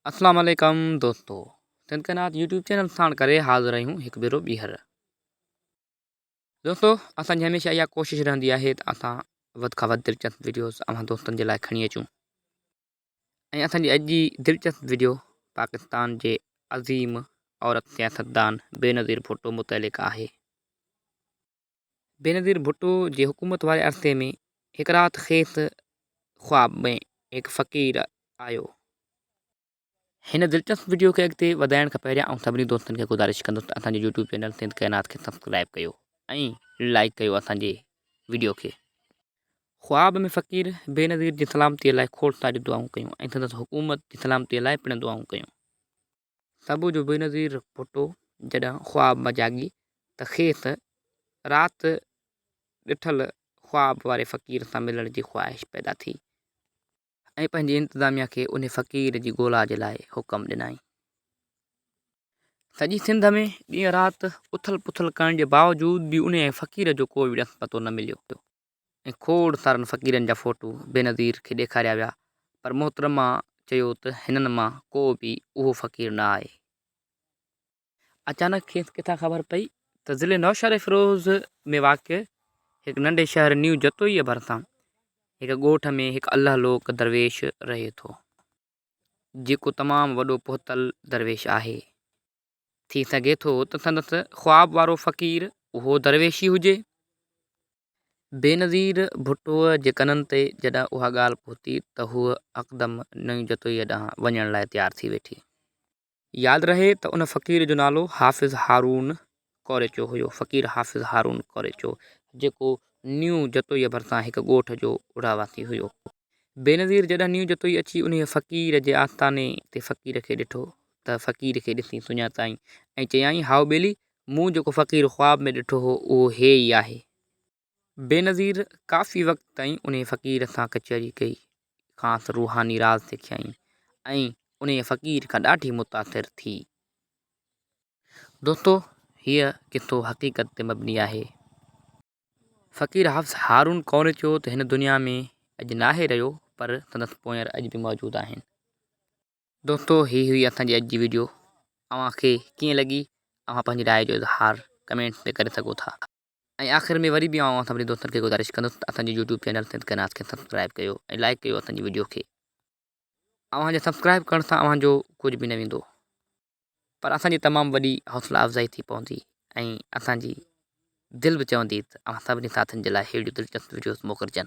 اسلام عليڪم دوستو سنڌ قنات يوٽيوب چينل ساڻ ڪري حاضر آهيون هڪ ڀيرو ٻيهر دوستو اسان جي هميشه اها ڪوشش رهندي آهي ته اسان وڌ کان وڌ دلچسپ ويڊيوز اوهان دوستن جي لاء کڻي اچون ۽ اسان جي اڄ جي دلچسپ ويڊيو پاڪستان جي عظيم عورت سياستدان بينظير ڀٽو متعلق آهي بينظير ڀٽو جي حڪومت واري عرصي ۾ هڪ رات کيس خواب ۾ هڪ فقير آيو. هن دلچسپ وڊيو کي اڳتي وڌائڻ کان پهريان آئون سڀني دوستن کي گذارش ڪندس ته اسان جي يوٽيوب چينل سنڌ ڪائنات کي سبسڪرائيب ڪيو ۽ لائيڪ ڪيو اسان جي وڊيو کي. خواب ۾ فقير بينظير جي سلامتي لاء کوڙ ساريون دعائون ڪيون ۽ سندس حڪومت جي سلامتي لاء پڻ دعائون ڪيون. صبح جو بينظير ڀٽو جڏهن خواب مان جاڳي ته کيس رات ڏٺل خواب واري فقير سان ملڻ جي خواهش پيدا ٿي ۽ پنهنجي انتظاميا کي انهي فقير جي ڳولا جي لاء حڪم ڏنائين. سڄي سنڌ ۾ ڏينهن رات اٿل پٿل ڪرڻ جي باوجود به انهي فقير جو ڪو به ڏس پتو نه مليو. ۽ کوڙ سارن فقيرن جا فوٽو بينظير کي ڏيکاريا ويا پر محترمه چيو ته هنن مان ڪو به اهو فقير نه آهي. اچانڪ کيس ڪٿان خبر پئي ته ضلعي نوشهروفيروز ۾ واقع هڪ ننڍي شهر نيو جتوئيء ڀرسان هڪ ڳوٺ ۾ هڪ الله لوڪ درويش رهي ٿو، جيڪو تمام وڏو پهتل درويش آهي. ٿي سگهي ٿو ته سندس خواب وارو فقير اهو درويش ئي هجي. بينظير ڀٽوء جي ڪنن تي جڏهن اها ڳالهه پهتي ته هوء هڪدم نئين جتوئيء ڏانهن وڃڻ لاء تيار ٿي ويٺي. ياد رهي ته ان فقير جو نالو حافظ هارون ڪوريچو هيو، فقير حافظ هارون ڪوريچو، جيڪو نيون جتوئيء ڀرسان هڪ ڳوٺ جو اڙاواسي هيو. بينظير جڏھن نيو جتوئي اچي انھيء فقير جي آستاني تي فقير کي ڏٺو تھ فقير کي ڏسي سڃاتائين ۽ چيائين، ھائو ٻيلي، مون جيڪو فقير خواب ۾ ڏٺو ھو، اھو ھيء ئي آھي. بينظير ڪافي وقت تائين انھيء فقير سان ڪچھري ڪئي، کانئس روحاني راز سکيائين ۽ انھيء فقير کان ڏاڍي متاثر ٿي. دوستو! ھيء قصو حقيقت تي مبني آھي. فقير حافظ هارون ڪوري چيو ته هن دنيا ۾ اڄ ناهي رهيو پر سندس پونئير اڄ به موجود آهن. دوستو هي هئي اسان جي اڄ جي ويڊيو اوهان کي ڪيئن لڳي اوهان پنهنجي راء جو اظهار ڪمينٽس ۾ ڪري سگهو ٿا ۽ آخر ۾ وري به آئون اوهان سڀني دوستن کي گذارش ڪندس ته اسان جي يوٽيوب چينل سنڌ ڪئين ناز کي سبسڪرائب ڪيو ۽ لائيڪ ڪيو اسان جي ويڊيو کي اوهان جي سبسڪرائب ڪرڻ سان اوهان جو ڪجهه به نه ويندو. پر اسان جي تمام وڏي حوصلا افزائي ٿي پوندي ۽ اسان جي دل به چوندي ته اوهان سڀني ساٿين جي لاء ههڙيون دلچسپ وڊيوز موڪلجن.